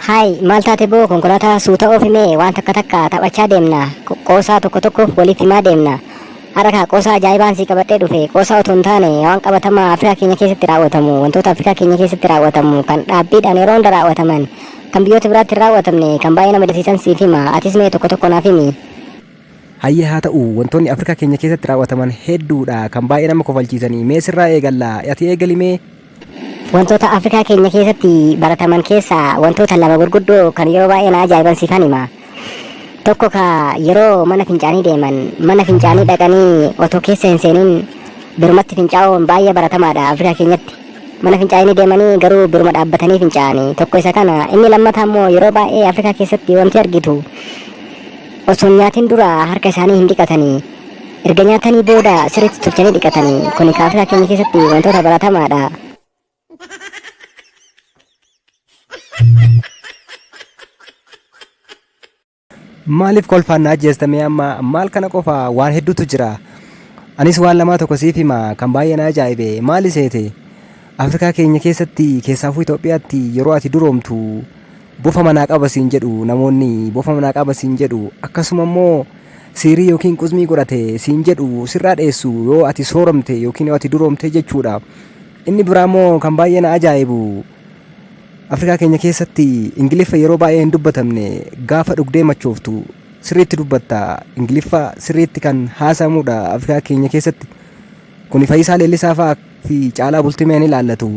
Haay maal taate boo konkolaataa suuta oofime waan takka takka taphachaa deemna Qo- qoosaa tokko tokko waliif himaa deemna har'a kaa qoosaa ajaa'ibaan sii qabadhee dhufe qoosaa otoo hin taane waan qabatamaa afrikaa keenya keessatti raawwatamu wantoota afrikaa keenya keessatti raawwatamu kan dhaabbiidhaan yeroo hunda raawwataman kan biyyoota biraatti hin raawwatamne kan baay'ee nama dasiisan siif hima atis mee tokko tokko naaf himi Hayyee haa ta'u, wantoonni Afrikaa keenya keessatti raaw'ataman hedduudha, kan baay'ee nama kofalchiisani. Mee sirraa eegalla, ati eegali mee? Wantoota Afrikaa keenya keessatti barataman keessaa wantoota lama gurguddoo kan yeroo baay'ee na ajaa'iban siifan hima. Tokko ka yeroo mana fincaanii deeman mana fincaanii dhaqanii otoo keessa hin seenin birumatti fincaa'uun baay'ee baratamaadha Afrikaa keenyatti. Mana fincaanii deemanii garuu biruma dhaabbatanii fincaa'anii tokko isa kana inni lammataa immoo yeroo baay'ee Afrikaa keessatti wanti argitu Osoo hin nyaatin dura harka isaanii hin dhiqatanii. Erga nyaatanii booda sirriitti tolchanii dhiqatanii. Kuni kaafira keenya keessatti wantoota baratamaadha. Maaliif kolfaan na ajjeestamee amma maal kana qofa waan hedduutu jira. Anis waan lamaa tokko siif hima kan baay'ee na ajaa'ibe maali seete? Afrikaa keenya keessatti keessaafuu Itoophiyaatti yeroo ati duroomtu bofa manaa qaba siin jedhu namoonni bofa manaa qaba siin jedhu akkasuma immoo siirii yookiin quzmii godhate siin jedhu sirraa dheessu yoo ati sooromte yookiin yoo ati duroomte jechuudha. Inni biraa immoo kan baay'ee na ajaa'ibu Afrikaa keenya keessatti Ingiliffa yeroo baay'ee hin dubbatamne gaafa dhugdee machooftu sirriitti dubbatta. Ingiliffa sirriitti kan haasa'amudha Afrikaa keenya keessatti. Kuni Fayisaa Leellisaa fa'aa fi Caalaa Bultimeen ilaallatu.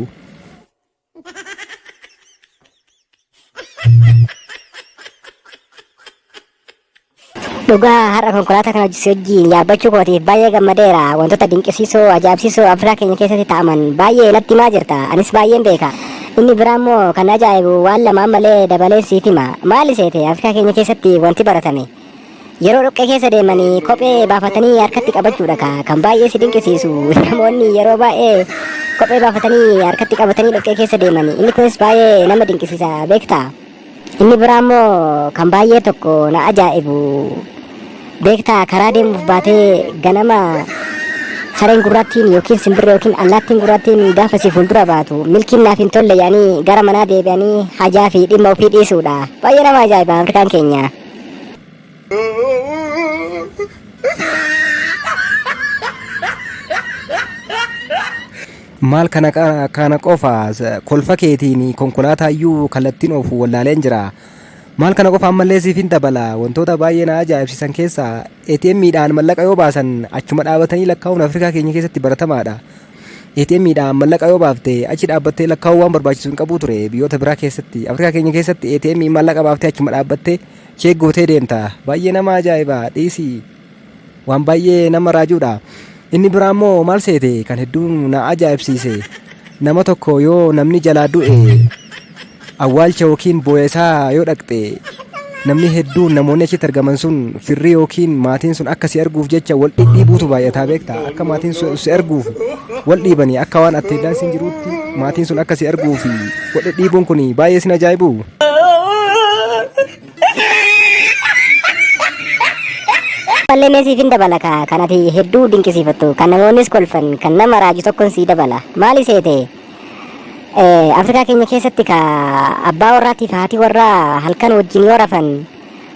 Dhugaa har'a konkolaataa kana si wajjin yaabbachuu kootiif baay'ee gammadeera. Wantoota dinqisiisoo, ajaa'ibsiisoo Afrikaa keenya keessatti ta'aman baay'ee natti himaa jirta. Anis baay'een beeka. Inni biraa immoo kan ajaa'ibu waan lamaan malee dabaleen siif hima. Maali seete Afrikaa keenya keessatti wanti baratame? Yeroo dhoqqee keessa deeman kophee baafatanii harkatti qabachuudha ka kan baay'ee si dinqisiisu namoonni yeroo baay'ee kophee baafatanii harkatti qabatanii dhoqqee keessa deeman inni kunis baay'ee nama dinqisiisa beekta inni biraa immoo kan baay'ee tokko na ajaa'ibu beekta karaa deemuuf baatee ganama sareen gurraattiin yookiin simbirree yookiin allaattiin gurraattiin gaafa si fuuldura baatu milkiin naaf hin tolle yaanii gara manaa deebi'anii hajaa fi dhimma ofii dhiisuudha baay'ee nama ajaa'iba afrikaan keenya. Maal kana qa- kana qofa s- kolfa keetiin konkolaataa iyyuu kallattiin oofu wallaaleen jira. Maal kana qofa ammallee siif hin dabala wantoota baay'ee na ajaa'ibsiisan keessaa ATM dhaan mallaqa yoo baasan achuma dhaabatanii lakkaa'uun Afrikaa keenya keessatti baratamaadha. ATM dhaan mallaqa yoo baafte achi dhaabbattee lakkaa'uu waan barbaachisu hin qabuu ture biyyoota biraa keessatti Afrikaa keenya keessatti ATM mallaqa baaftee achuma dhaabbattee cheek gootee deemta baay'ee nama ajaa'iba dhiisii waan baay'ee nama raajuudha inni biraa immoo maal seete kan hedduu na ajaa'ibsiise nama tokko yoo namni jalaa du'e Awwaalcha ykn booya isaa yoo dhaqxe namni hedduun namoonni achitti argaman sun firri ykn maatiin sun akka si arguuf jecha wal dhidhiibuutu baay'ataa beekta akka maatiin sun si arguuf wal dhiibanii akka waan atteeddaan siin jiruutti maatiin sun akka si arguuf wal dhidhiibuun kun baay'ee sin ajaa'ibu. Ballee mee siifin dabala ka kan ati hedduu dinqisiifattu kan namoonnis kolfan kan nama raaju tokkon sii dabala maali seete Eh, Afrikaa keenya keessatti ka abbaa warraatiif haati warraa halkan wajjin yoo rafan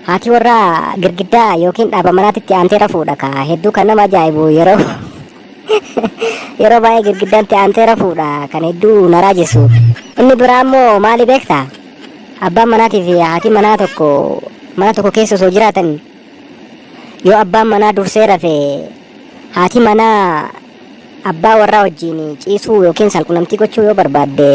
haati warraa girgiddaa yookiin dhaaba manaatitti aantee rafuudha ka hedduu kan nama ajaa'ibu yeroo yeroo baay'ee girgiddaatti aantee rafuudha kan hedduu na raajessu. Inni biraa immoo maali beekta? Abbaan manaatii fi haati manaa tokko mana tokko keessa osoo jiraatan yoo abbaan manaa dursee rafe haati manaa Abbaa warraa wajjin ciisuu yookiin saalqunnamtii gochuu yoo barbaadde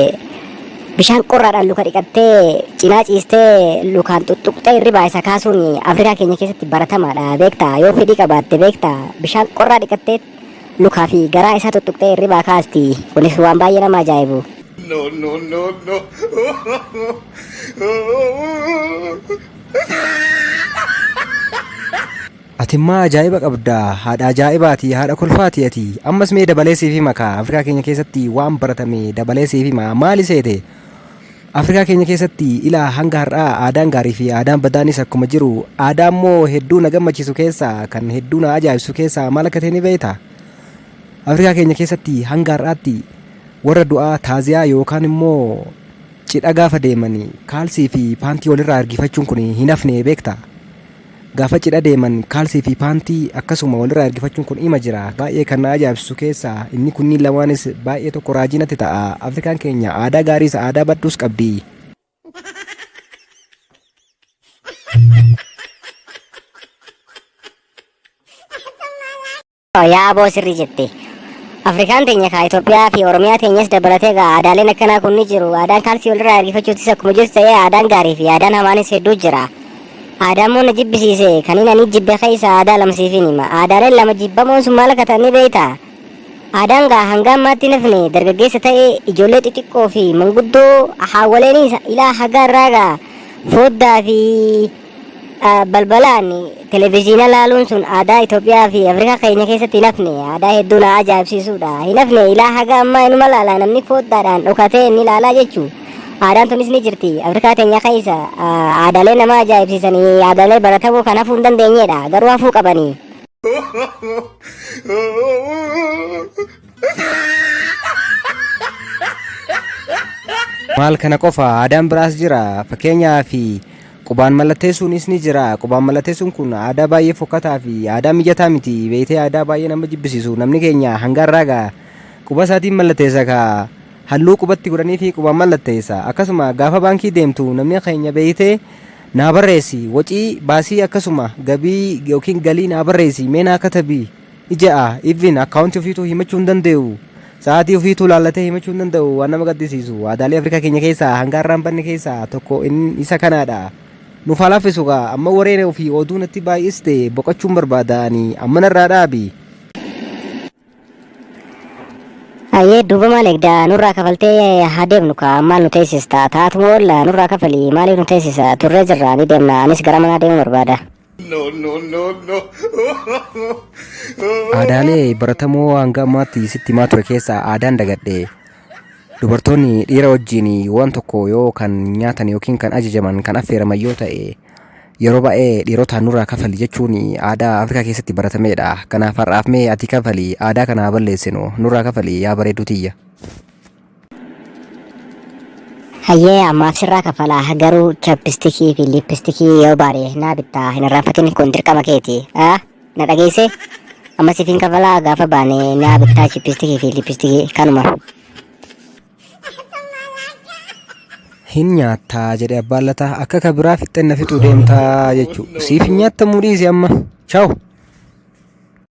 bishaan qorraadhaan luka dhiqattee cinaa ciistee lukaan xuxxuqxee hirribaa isa kaasuun Afrikaa keenya keessatti baratamaadha beektaa yoo fedhii qabaatte beektaa bishaan qorraa dhiqattee lukaa fi garaa isaa xuxxuqxee hirribaa kaasti kunis waan baay'ee nama ajaa'ibu. No, no, no, no. Oh, oh, oh, oh. Atimmaa ajaa'iba qabda haadha ajaa'ibaati haadha kolfaati ati ammas mee dabalee siif hima kaa Afrikaa keenya keessatti waan baratame dabalee siif hima maali seete Afrikaa keenya keessatti ilaa hanga har'aa aadaan gaarii fi aadaan badaanis akkuma jiru aadaa immoo hedduu na gammachiisu keessaa kan hedduu na ajaa'ibsu keessaa maal akka ta'e ni beekta Afrikaa keenya keessatti hanga har'aatti warra du'aa taaziyaa yookaan immoo cidha gaafa deemanii kaalsii fi paantii walirraa ergifachuun kun hin hafne beekta. Gaafa cidha deeman kaalsii fi paantii akkasuma walirraa ergifachuun kun ima jira. Baay'ee kan na ajaa'ibsiisu keessaa inni kunniin lamaanis baay'ee tokko raajii natti ta'a. Afrikaan keenya aadaa gaariis aadaa badduus qabdi. Yaa aboo sirrii jette. Afrikaan teenya kaa Itoophiyaa fi Oromiyaa teenyas dabalatee gaa aadaaleen akkanaa kun ni jiru. Aadaan kaalsii walirraa ergifachuutis akkuma jirtu ta'ee aadaan gaarii fi aadaan hamaanis hedduu jira. Aadaan moo na jibbisiise kan inni ani jibbe keessa aadaa lama siifin hima. Aadaaleen lama jibbamoon sun maal akka ta'an ni beektaa? Aadaan gaa hanga ammaatti nafne dargaggeessa ta'ee ijoollee xixiqqoo fi manguddoo haawwaleen ilaa hagaa irraa gaa fooddaa fi Ah, Balbalaan televezyiina laaluun sun aadaa Itoophiyaa fi Afrikaa keenya keessatti hin hafne aadaa hedduu na ajaa'ibsiisuudha. Hin hafne ilaa haga ammaa inuma laalaa namni fooddaadhaan dhokatee inni laalaa jechuu. Aadaan tunis ni jirti. Afrikaa teenya keessa ah, aadaalee nama ajaa'ibsiisanii aadaalee baratamoo kan hafuu hin dandeenyedha. Garuu hafuu qabanii. Maal kana qofa aadaan biraas jira fakkeenyaa fi qubaan mallatteessuunis ni jira qubaan mallatteessuun kun aadaa baay'ee fokkataa fi aadaa mijataa miti beektee aadaa baay'ee nama jibbisiisu namni keenya hanga irraa gaa quba isaatiin mallatteessa ka halluu qubatti godhanii fi qubaan mallatteessa akkasuma gaafa baankii deemtu namni keenya beektee naa barreessi wacii baasii akkasuma gabii yookiin galii naa barreessi mee naa katabii Ija a even akkaawuntii ofiituu himachuu hin danda'u. Sa'aatii ofiituu laallatee himachuu hin danda'u. Waan nama gaddisiisu. Aadaalee Afrikaa keenya keessaa hanga har'aa hin banne keessaa tokko in isa kanaadha. Nuuf haa laaffisu kaa. Amma wareere ofii oduu natti baay'iste boqachuun barbaada ani. Amma narraa dhaabi. Ayyee duuba maal eegdaa nurraa kafaltee haa deemnu kaa maal nu teessista taatuma oolla nurraa kafali maaliif nu teessisa turree jirra ni deemna anis gara manaa deemuu barbaada. Aadaalee baratamoo hanga ammaatti sitti himaa ture keessaa aadaan dagadhe dubartoonni dhiira wajjin waan tokko yoo kan nyaatan yookiin kan ajajaman kan affeeraman yoo ta'e yeroo baay'ee dhiirotaan nurraa kafali jechuun aadaa Afrikaa keessatti baratameedha. Kanaaf har'aaf mee ati kafali aadaa kana haa balleessinu nurraa kafali yaa bareedduu tiyya. Hayyee ammaaf sirraa kafalaa garuu chappistikii fi liippistikii yoo baade naa bittaa hin irraanfatin kun dirqama keeti aa na dhageesse amma siif hin kafalaa gaafa baane naa bittaa chippistikii fi liippistikii kanuma. hin nyaattaa jedhe abbaan lataa akka ka biraa fixxenna fixuu deemtaa jechuu siif hin nyaattamuu dhiisi amma chaawu